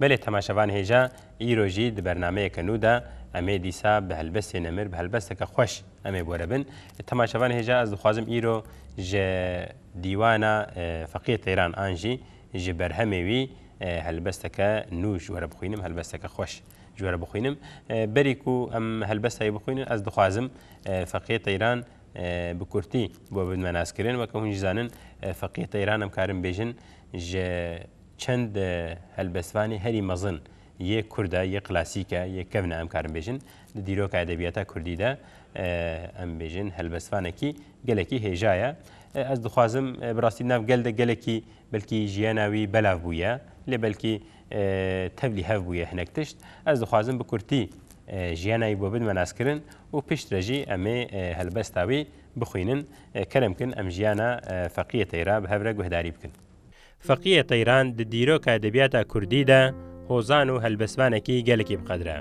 Belê temaşevan hêja îro jî di bernameyeke nû de em ê dîsa bi helbestê nemir bi helbesteke xweş em ê bore bin. Temaşevan hêja ez dixwazim îro ji dîwana Feqiyê Teyran an jî ji berhemê wî helbesteke nû ji were bixwînim helbesteke xweş ji were bixwînim. Berî ku em helbesta wî bixwînin ez dixwazim Feqiyê Teyran bi kurtî bo bidme naskirin weke hûn jî zanin Feqiyê Teyran em karin bêjin ji Çend helbestvanê herî mezin yê Kurd e, yê klasîk e, yê kevn e em karin bêjin. Di dîroka edebiyata Kurdî de em bêjin helbestvanekî gelekî hêja ye. Ez dixwazim bi rastî di nav gel de gelekî belkî jiyana wî belav bûye lê belkî tevlî hev bûye hinek tişt. Ez dixwazim bi kurtî jiyana wî bo bidime naskirin û pişt re jî em ê helbesta wî bixwînin. Kerem kin em jiyana feqîyê teyra bi hev re guhdarî bikin. Feqiyê Teyran di dîroka edebiyata Kurdî de hozan û helbestvanekî gelekî bi qedr e.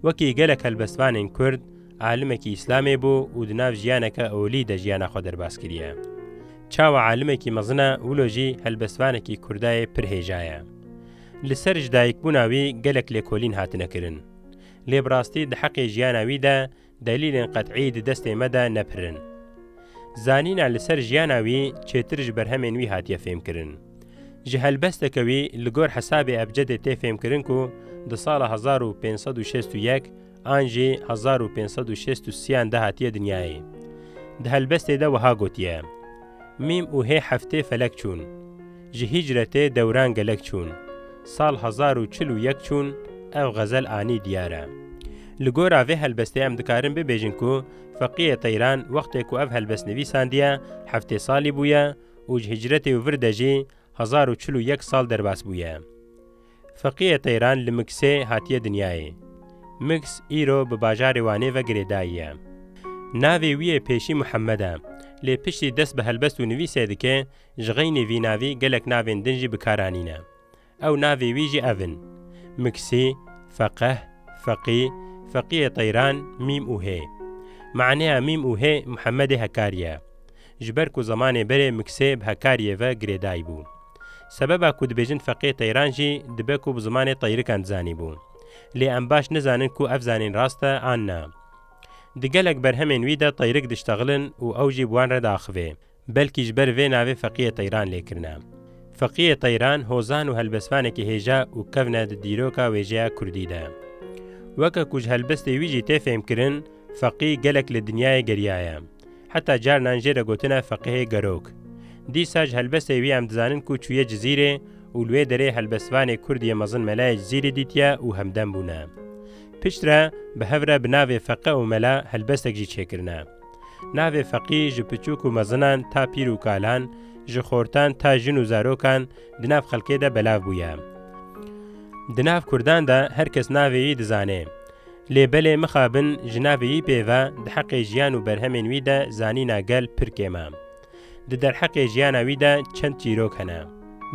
Wekî gelek helbestvanên Kurd, alimekî Îslamê bû û di nav jiyaneke olî de jiyana xwe derbas kiriye. Çawa alimekî mezin e wilo jî helbestvanekî Kurdayê pir hêja ye. Li ser ji dayikbûna wî gelek lêkolîn hatine kirin. Lê bi rastî di heqê jiyana wî de Delîlên qet'î di destê me de ne pir in. Zanîna li ser jiyana wî çêtir ji berhemên wî hatiye fêmkirin. Ji helbesteke wî li gor hesabê ebcedê tê fêmkirin ku di sala hezar û pênc sed û şêst û yek an jî hezar û pênc sed û şêst û sî an de hatiye dinyayê. Di helbestê de wiha gotiye, Mîm û hê heftê felek çûn. Ji hîcretê dewran gelek çûn. Sal hezar û çil û yek çûn ev xezel anî diyar e. Li gora vê helbestê em dikarin bibêjin ku Feqiyê Teyran wextê ku ev helbest nivîsandiye heftê salî bûye û ji hîcretê û vir de jî hezar û çil û yek sal derbas bûye. Feqiyê Teyran li Migsê hatiye dinyayê. Migs îro bi bajarê Wanê ve girêdayî ye. Navê wî yê pêşî Mihemed e. Lê piştî dest bi helbest û nivîsê dike Ji xeynê vî navê gelek navên din jî bi kar anîne. Ew navê wî jî ev in, Miksê, Feqeh, Feqî, Feqîyê Teyran, Mîm û Hê. Maneya Mîm û Hê Muhemedê Hekarî ye. Ji ber ku zemanê berê Miksê bi Hekarîyê ve girêdayî bû. Sebeba ku dibêjin Feqîyê Teyran jî dibe ku bi zimanê Teyrikan dizanî bû. Lê em baş nizanin ku ev zanîn rast e an na. Di gelek berhemên wî de Teyrik diştexilin û ew jî bi wan re diaxivê. belkî ji ber vê navê Feqiyê Teyran lê kirine. Feqiyê Teyran hozan û helbestvanekî hêja û kevne di dîroka wêjeya kurdî de. Weke ku ji helbestê wî jî tê fêmkirin, Feqî gelek li dinyayê geriyaye. Heta carinan jê re gotine Feqihê Gerok. Dîsa ji helbestê wî em dizanin ku çûye Cizîrê û li wê derê helbestvanê kurd yê mezin Melayê Cizîrî dîtiye û hemdem bûne. Piştre bi hev re bi navê Feqe û Mela helbestek jî çêkirine. Navê feqî ji piçûk û mezinan ta pîr û kalan, ji xortan ta jin û zarokan di nav xelkê de belav bûye. Di nav kurdan de her kes navê wî dizanê. Lê belê mixabin ji navê wî pê ve di heqê jiyan û berhemên wî de zanîna gel pir kêm e. Di derheqê jiyana wî de çend çîrok hene.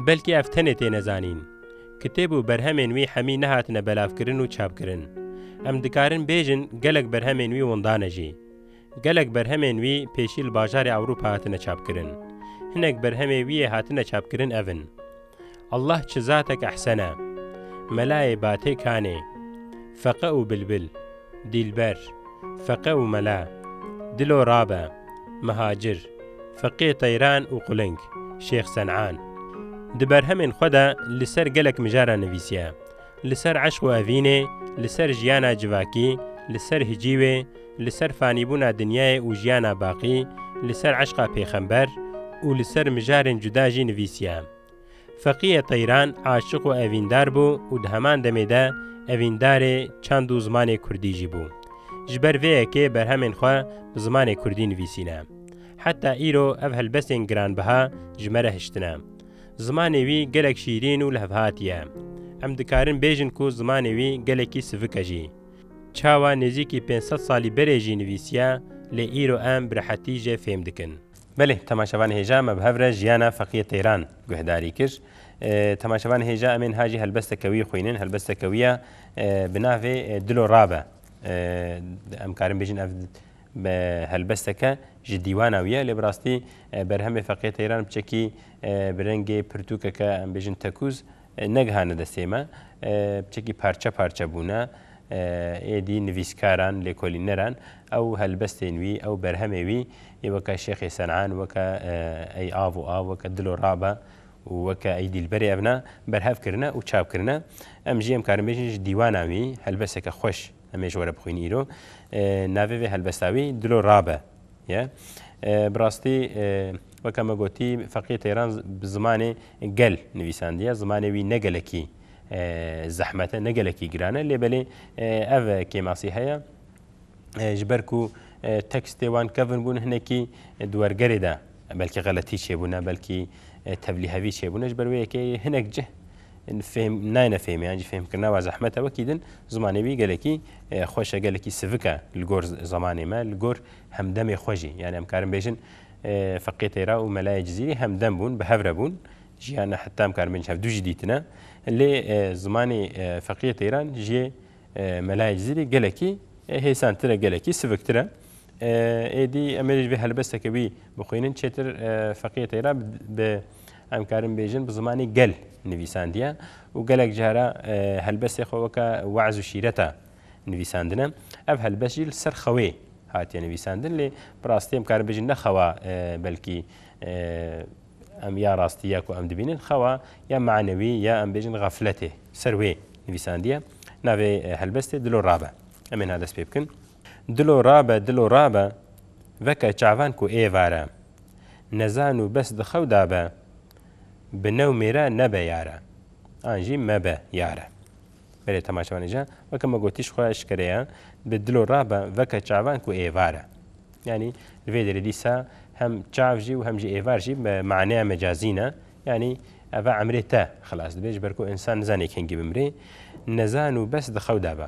Belkî ev tenê têne zanîn. Kitêb û berhemên wî hemî nehatine belavkirin û çapkirin. Em dikarin bêjin gelek berhemên wî windan e jî. Gelek berhemên wî pêşî li bajarê Ewropa hatine çapkirin. Hinek berhemê wî yê hatine çapkirin ev in, Allah çi zatek ehsen e, Melayê Batê Kanê, Feqe û Bilbil, Dîlber, Feqe û Mela, Dilo Rabe, Mihacir, Feqê Teyran û Quling, Şêx Sen'an. Di berhemên xwe de li ser gelek mijaran nivîsiye. li ser eşq û evînê, li ser jiyana civakî, li ser hicîwê, li ser fanîbûna dinyayê û jiyana baqî, li ser eşqa pêxember û li ser mijarên cuda jî nivîsiye. Feqîyê Teyran aşiq û evîndar bû û di heman demê de evîndarê çand û zimanê kurdî jî bû. Ji ber vê yekê berhemên xwe bi zimanê kurdî nivîsîne. Heta îro ev helbestên giranbiha ji me re hiştine. Zimanê wî gelek şîrîn û lihevhatî ye. Em dikarin bêjin ku zimanê wî gelekî sivik e jî. Çawa nêzîkî pênc sed salî berê jî nivîsiye lê îro em bi rehetî jê fêm dikin. Belê temaşevan hêja me bi hev re jiyana Feqiyê Teyran guhdarî kir. Temaşevan hêja em ê niha jî helbesteke wî xwînin. Helbesteke wî ya bi navê Dilo Rabe. Em karin bêjin ev Bi helbesteke ji dîwana wî ye lê bi rastî berhemê feqîya Teyran biçekî bi rengê pirtûkeke em bêjin tekûz negihane destê me. Biçekî parçe parçe bûne. Êdî nivîskaran, lêkolîneran ew helbestên wî, ew berhemê wî yê weke Şêxê Senan, weke Ey av û av, weke Dilo rabe û weke Ey dîlberê evna berhev kirine û çap kirine. Em jî em karin bêjin ji dîwana wî helbesteke xweş. Em ê ji we re bixwînin îro. Navê vê helbesta wî Dilo Rabe ye. Bi rastî weke me gotî feqî teyran bi zimanê gel nivîsandiye. Zimanê wî ne gelekî zehmet e, ne gelekî giran e. Lê belê ev kêmasî heye ji ber ku tekstê wan kevin bûn hinekî di wergerê de belkî xeletî çêbûne, belkî tevlîhevî çêbûne ji ber wê yekê hinek cih Fêhm nayêne fêhmê an jî fêhmkirina we zehmet e. Wekî din zimanê wî gelekî xweş e, gelekî sivik e li gor zemanê me, li gor hemdemê xwe jî. Yanî em karin bêjin Feqî Têra û Melayê Cizîrî hemdem bûn, bi hev re bûn, jiyana heta em karin bêjin hevdû jî dîtine. Lê zimanê Feqî Têran jiyê Melayê Cizîrî gelekî hêsantir e, gelekî siviktir e. Êdî em ê jî vê helbesteke wî bixwînin. Çêtir Feqî Têra bi Em karin bêjin bi zimanê gel nivîsandiye û gelek cara helbestê xwe weke we'z û şîreta nivîsandine. Ev helbest jî li ser xewê hatiye nivîsandin lê bi rastî em karin bêjin ne xewa belkî em ya rastî ya ku em dibînin xewa ya manewî ya em bêjin xefletê ser wê nivîsandiye. Navê helbestê dilo rabe. Em ê niha dest pê bikin. Dilo rabe, dilo rabe veke çavan ku êvar e. Nezan û bes di xew da be. Bi new mêre nebe yare. An jî mebe yare. Berê temaşevanê je, weke me gotî ji xwe eşkere ye, bi dilo rabe veke çavan ku êvar e. Yanî li vê derê dîsa hem çav jî û hem jî êvar jî bi maneya mecazî ne. Yanî ev e emrê te xilas dibe ji ber ku însan nizane kengî bimrê. Nezan û bes di xew da be.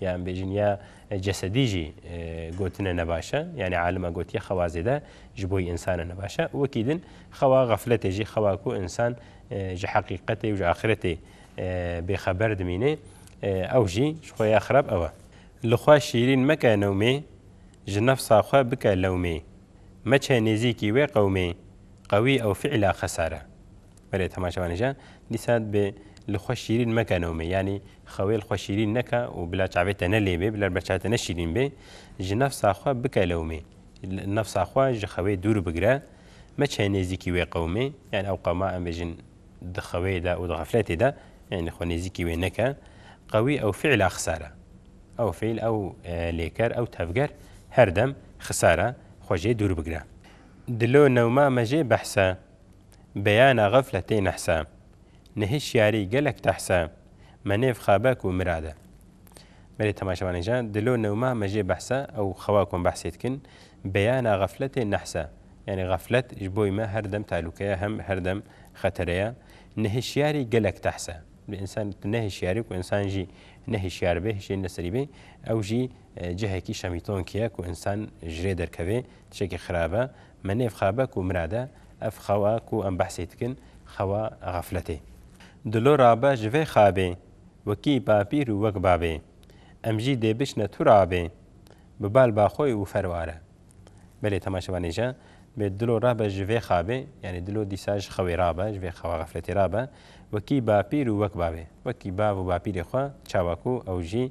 Yan bêjin ya cesedî jî gotine ne baş e. Yanî alima gotiye xewa zêde ji bo yî însan e ne baş e. Wekî din xewa xefletê jî xewa ku însan ji heqîqetê û ji axiretê bêxeber dimîne ew jî ji xwe ya xerab ew e. Li xwe şîrîn meke newmê, ji nefsa xwe bike lewmê. Meçe nêzîkî wê qewmê, qewî ew fîla xesar e. Berê temaşevanê jî dîsa dibê li xwe şîrîn meke nomê yanî xewê li xwe şîrîn neke û bila çavê te ne lêbê bila bila çavê te ne şîrîn bê ji nefsa xwe bike lewmê nefsa xwe ji xewê dûr bigire meçe nêzîkî wê qewmê yanî ew qewma em bêjin di xewê de û di xefletê de yanî xwe nêzîkî wê neke qewî ew fîla xisar e ew fîl ew lêker ew tevger her dem xisar e xwe jê dûr bigire. Di lo newma me jê behsa Beyana xefletê nehse. Ni hişyarî gelek tehse. Me nêv xabe ku mirade. Berê temaşevanê ja, dilo newma me jê behse ew xewa ku em behsê dikin, beyana xefletê nehse. Yanî xeflet ji boî me her dem tehlûke ye, hem her dem xetere ye. Ni hişyarî gelek tehse. Bi însan tu nehişyarî ku însan jî nehişyar bê, hişê li serî bê, ew jî cihekî şemîtonkî ye ku însan ji rê derkevê, tişekî xirab e. Me nêv xabe ku mirad e, ev xewa ku em behsê dikin xewa xefletê. Dilo rabe ji vê xabê, wekî bapîr û wek bavê. Em jî dê biçine tu rabê, bi bal ba xwe û fer ware. Belê temaşevanê je, bê dilo rabe ji vê xabê, yanî dilo dîsa ji xewê rabe, ji vê xewa xefletê rabe, wekî bapîr û wek bavê. Wekî bav û bapîrê xwe, çawa ku ew jî.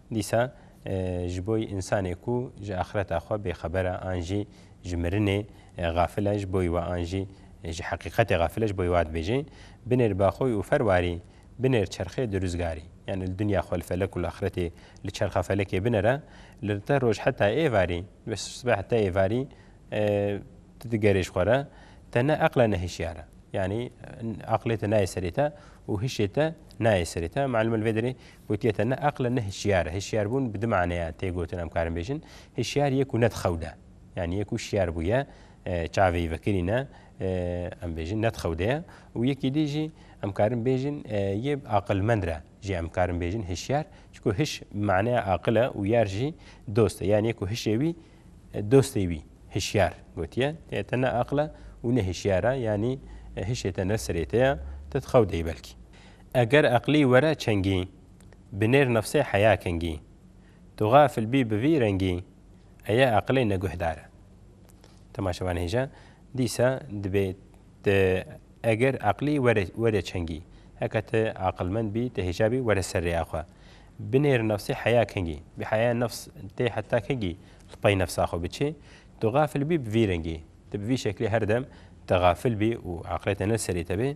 Dîsa ji bo însanê ku ji axireta xwe bêxeber e an jî ji mirinê xafil e ji bo we an jî ji heqîqetê xafil e ji bo wa dibêje, Binêr baxoy û fer warî, binêr çerxê di rûzgarî. Yanî li dinya xwe li felek û li axretê li çerxa felekê binere, li rte roj heta êvarî, li sibeh heta êvarî tu digerê ji xwe re, te ne eql e ne hişyar e. Yanî eqlê te nayê serê te û hişê te nayê serê te. Meelûm e li vê derê Gotiye te ne eql e ne hişyar e. Hişyarbûn bi du maneya tê gotin em karin bêjin. Hişyar yê ku nedixewde. Yanî yê ku şiyar bûye, çavê yî vekirîn e, em bêjin nedixewde ye. Û yekî dî jî em karin bêjin yê aqilmend re jî em karin bêjin hişyar. Çunku hiş bi maneya aqil e û yar jî dost e. Yanî yê ku hişê wî dostê wî hişyar gotiye. Yê te ne eql e û ne hişyar e. Yanî hişê te ne serê te ye, te dixewde yî belkî. Eger eqlî were çengî. Bi nêr nefsê heya kengî. Tu xafil bî bi vî rengî. Eye eqlê ne guhdar e. Temaşe van hêja. Dîsa dibê te eger eqlî were were çengî. Heke te aqilmend bî, te hêja bî were ser rêya xwe. Bi nêr nefsê heya kengî. Bi heya nefs tê heta kengî li pey nefsa xwe biçî. Tu xafil bî bi vî rengî. Ti bi vî şeklê her dem te xafil bî û eqlê te ne li serê te bê.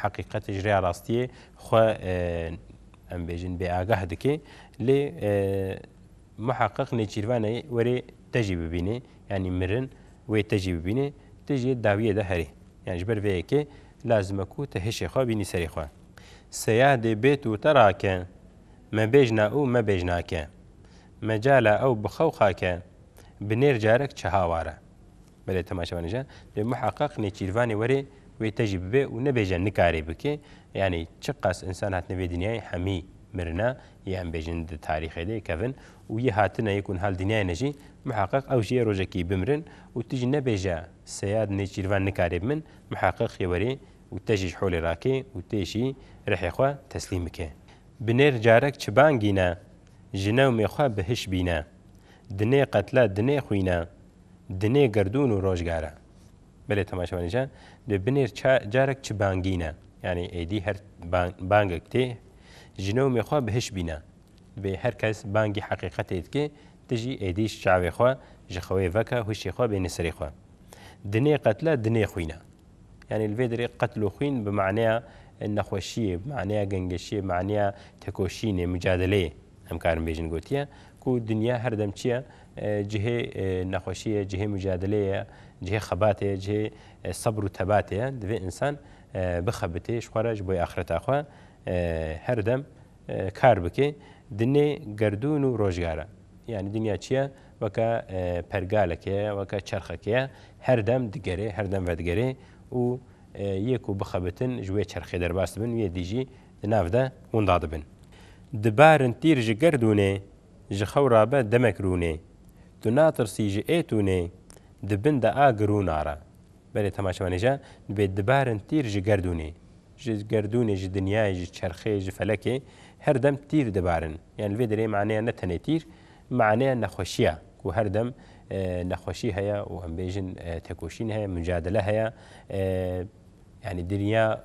Heqîqetê ji rêya rastiyê xwe em bêjin bêagah dike lê muheqiq nêçîrvanê werê te jî bibînê yanî mirin wê te jî bibînê tu jê dawiyê de herî yan ji ber vê yekê lazime ku te hişê xwe bînî serê xwe seyah dê bêt û te rake me bêjna û me bêjnake mecala ew bixew xake bi nêr carek çi haware. Belê temaşe bane jî. Dê muheqeq nêçîrvanê were wê te jî bibe û nebêje nikarê bike. Yanî çiqas însan hatine vê dinyayê hemî mirine yê em bêjin di tarîxê de kevin û yê hatine yê ku niha li dinyayê ne jî muheqeq ew jî yê rojekî bimirin û tu jî nebêje seyad nêçîrvan nikarê bi min muheqeq yê were û te jî ji holê rake û tê jî rihê xwe teslîm bike. Binêr carek çi bangîne ji newmê xwe bi hiş bîne. Dinê qetle, dinê xwîne, dinê gerdûn û rojgare. Belê temaşevanê ca dê binêr ça carek çi bangîne. Yanî êdî her bangek tê ji newmê xwe bi hiş bîne. Divê her kes bangî heqîqetê dikê ti jî êdîş çavê xwe ji xewê veke huşê xwe bêne serê xwe. Dinê qetle, dinê xwîne. Yanî li vê derê qetl û xwîn bi maneya nexweşiyê, bi maneya gengeşiyê, bi maneya tekoşînê, mucadeleyê. Em karin bêjin gotiye ku dinya her dem çi ye? Cihê nexweşî ye, cihê mucadeleyê ye, cihê xebatê ye, cihê sebr û tebatê ye. Divê însan bixebitê ji xwe re ji bo axireta xwe her dem kar bike di nê gerdûn û rojga re. Yanî dinya çi ye? Weke pergaleke ye, weke çerxeke ye her dem digerê, her dem vedigerê û yê ku bixebitin ji wê çerxê derbas dibin, wê dî jî di nav de wenda dibin. Di barin tîr ji gerdûnê, ji xewra be demek rûnê. Tu natirsî ji êtûnê, di bin de a girûna re. Berê temaşe menêje, dibê di barin tîr ji gerdûnê. Ji gerdûnê, ji dinyayê, ji çerxê, ji felekê her dem tîr dibarin. Yan li vê derê maneya ne tenê tîr, maneya nexweşî ya ku her dem nexweşî heye û em bêjin tekoşîn heye, mucadele heye. Yanî dinya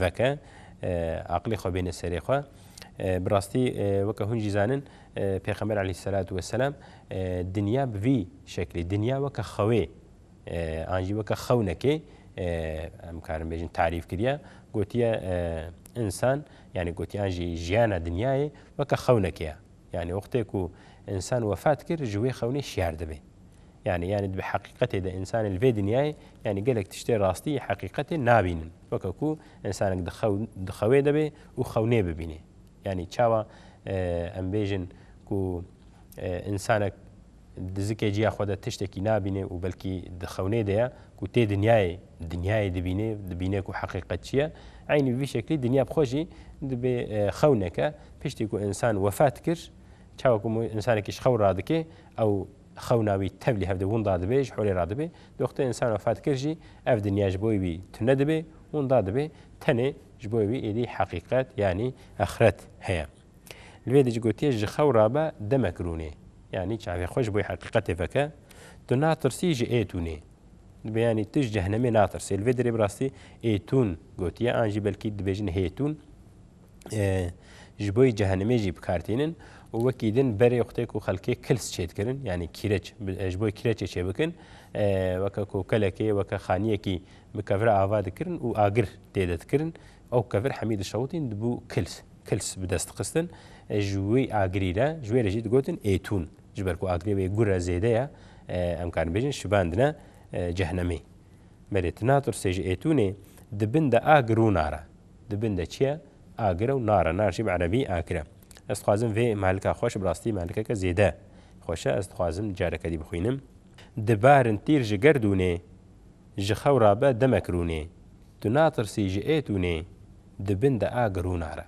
veke, aqilê xwe bêne serê xwe. Bi rastî weke hûn jî zanin Pêxember eleyhîsselatu weselam dinya bi vî şeklê, dinya weke xewê an jî weke xewnekê em karin bêjin tarîf kiriye, gotiye însan yanî gotiye an jî jiyana dinyayê weke xewnekê ye. Yanî wextê ku însan wefat kir ji wê xewnê şiyar dibe. Yani yani di heqîqetê de însanê li vê dinyayê yani gelek tiştê rastî yê heqîqetê nabînin. Weke ku însanek di xew di xewê de bê û xew nêbibînê. Yani çawa em bêjin ku însanek di zikê ciya xwe de tiştekî nabînê û belkî di xewnê de ye ku tê dinyayê dinyayê dibînê dibînê ku heqîqet çi ye. Eynî bi vî şeklî dinya bi xwe jî dibê xewneke. Piştî ku însan wefat kir çawa ku însanekî ji xew radikê ew Xewna wî tevlî hevdê winda dibê, ji holê re dibê. Doxtê însan wefat kir jî ev dinya ji bo wî tune dibê, winda dibê. Tenê ji bo wî êdî heqîqet yanî exret heye. Li vê de jî gotiye ji xew re be demek rûnê. Yanî çavê xwe ji bo heqîqetê veke. Tu natirsî ji êtûnê. Dibê yanî tu ji cehnemê natirsî. Li vê derê bi rastî êtûn gotiye an jî belkî dibêjin hêtûn. ji bo yê cehenimê jî bikartînin û wekî din berê xutê ku xelkê kils çêdikirin yanî kîreç ji bo kîreçê çêbikin weke ku kelekê weke xaniyekî bi kevira ava dikirin û agir têde dikirin ew kevir hemî dişewitîn dibû kils kils bi dest dixistin ji wî agirî re ji wê re jî digotin êtûn ji ber ku agirê wê gure zêde ye em karin bêjin şibandine cehenimê merê tu natursê ji êtûnê di bin de agir rûna re Di bin de çi ye? Agir e û nar e. Nar jî bi erebî akir e. Ez dixwazim vê mehlika xweş, bi rastî mehlikeke zêde xweş e. Ez dixwazim careke dî bixwînim. Di barin tîr ji gerdûnê. Ji xew ra be demek rûnê. Tu natirsî ji êtûnê. Di bin de agir û nar e.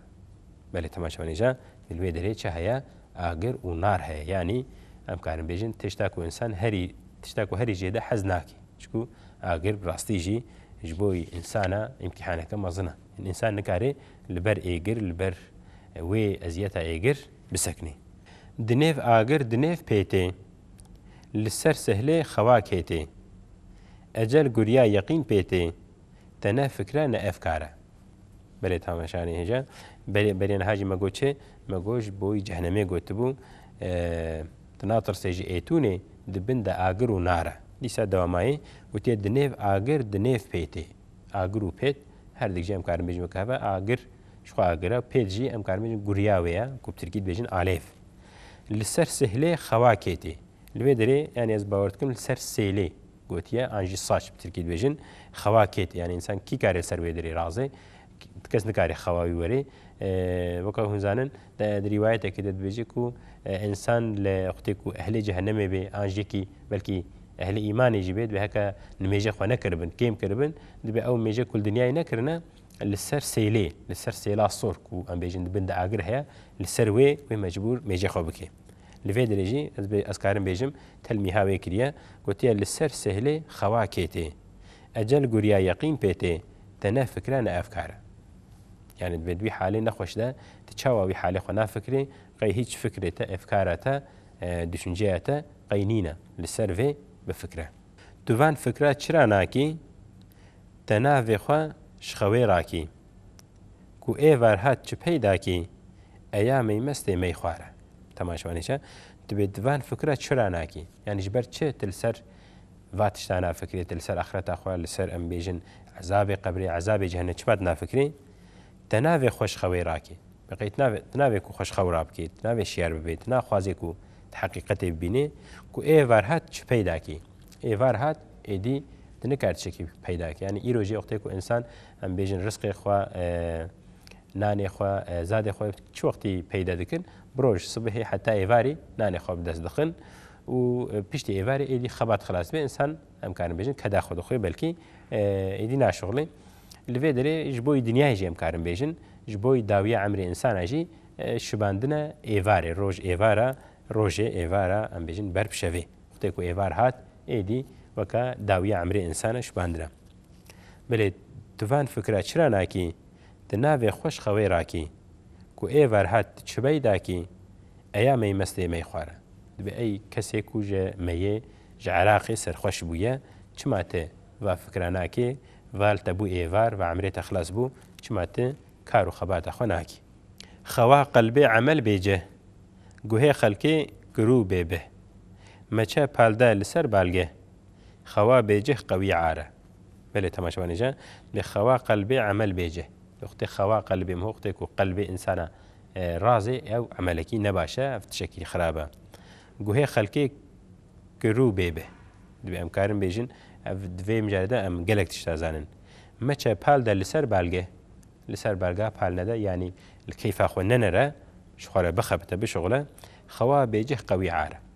Belê temaşe vênêje, di li wê derê çi heye? Agir û nar heye. Yanî em karin bêjin tişta ku însan herî tişta ku herî zêde hez nake. Çku agir bi rastî jî ji bo însana îmtîhaneke mezin e. Însan nikare li ber êgir, li ber wê eziyeta êgir bisekinê. Di nêv agir, di nêv pê tê. Li ser sehlê xewa kê tê. Ecel guriya yeqîn pê tê. Te ne fikre ne efkar e. Belê tame şanê hêja. Belê belê niha jî me got çi? Me got ji bo î cehnemê gotibû. Tu natirsê ji êtûnê, di bin de agir û nar e. Dîsa dewamayê, witiye di nêv agir, di nêv pêtê. Agir û pêt, her dik jî em karin bêjin weke hev e, agir ji xwe agir e, pêt jî em karin bêjin guriya wê ye ku bi tirkî dibêjin alêv. Li ser sihlê xewa kêtê. Li vê derê yanî ez bawer dikim li ser sêlê gotiye an jî saç bi tirkî dibêjin xewa kêtê yanî însan kî karê li ser wê derê razê Tu kes nikare xewa wî werê. Weke hûn zanin, di rîwayetekê de dibêje ku însan li wextê ku ehlê cehenemê bê an jîkî belkî ehlê îmanê jî bê divê heke nimêje xwe nekiribin, kêm kiribin, divê ew mêje ku li dinyayê nekirine li ser sêlê, li ser sêla sor ku em bêjin di bin de agir heye, li ser wê wê mecbûr mêjê xwe bike. Li vê dirê jî ez ez karim bêjim telmîha wê kiriye, gotiye li ser sêhlê xewa kê tê. Ecel guriya yeqîn pê tê, te ne fikre ne efkar e. Yani divê di wî halê nexweş de tu çawa wî halê xwe nafikirî, qey hîç fikrê te, efkara te, duşinceya te qey nîne li ser vê bifikre. Tu van fikra çira nakî, te navê xwe ji xewê rakî. Ku êvar hat çi peyda kî, eya meymestê mey xware. Temaşvanê çi? Tu dibê di van fikra çira nakî. Yani ji ber çi tu li ser Va tişta nafikrê, tu li ser axireta xwe, li ser em bêjin ezabê qebrê, ezabê cehenê çima dinafikrê? Te navê xwe ji xewê rakê. Bi qey tu navê ku xwe ji xew rabikê, tu navê şiyar bibê, tu naxwazê ku tu heqîqetê bibînê ku ê var hat çi peyda kê. Ê var hat êdî tu nikar tişekî peyda bikî. Yanî îro jî wextê ku însan em bêjin risqê xwe, nanê xwe, zadê xwe çi wextî peyda dikin? Bi roj sibihê heta êvarî nanê xwe bi dest dixin Û piştî êvarê êdî xebat xilas bê însan em karin bêjin keda xwe dixwe belkî êdî naşixulî. Li vê derê ji bo yî dinyayê jî em karin bêjin ji bo yî dawiya emrê insana jî şibandine êvarê roj êvara rojê êvara em bêjin ber bi şevê. Wextê ku êvar hat êdî weke dawiya emrê insana şibandine. Belê tu van fikira çira nakî? di navê xweş xewê rakî ku ê verhat di çibey dakî eya meymestê mey xware. Dibê ey kesê ku ji meyê ji Iraqê serxweş bûye çima ti va fikra nakê val te bû êvar va emrê te xilas bû çima ti kar û xebata xwe nakî. Xewa qelbê emel bê cih, guhê xelkê girû bê bih. Meçe palde li ser balgeh. Xewa bêcih qewî ar e. Belê temaşevanê ji lê xewa qelbê emel bêcih. Wextê xewa qelbê miho wextê ku qelbê însana razê ew emelekî ne baş e, ev tişekî xerab e. Guhê xelkê ki rû bê bi. Divê em karin bêjin ev di vê mijarê de em gelek tişt da zanin. Meçe pal de li ser balgê, li ser balga pal nede yanî li keyfa xwe nenere, ji xwe re bixebite, bişuxile, xewa bêcih qewî ar e.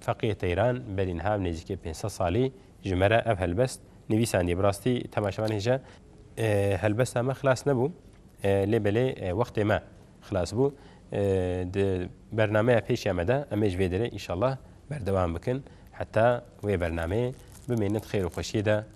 Feqîh Teyran, Belînha bi nêzîkê pênc sed salî ji me re ev helbest nivîsandiye. Bi rastî temaşevanê hêja helbesta me xilas nebû lê belê wextê me xilas bû. Di bernameya pêşiya me de em ê ji vê derê înşallah berdewam bikin heta wê bernameyê bimêne di xêr û xweşiyê de.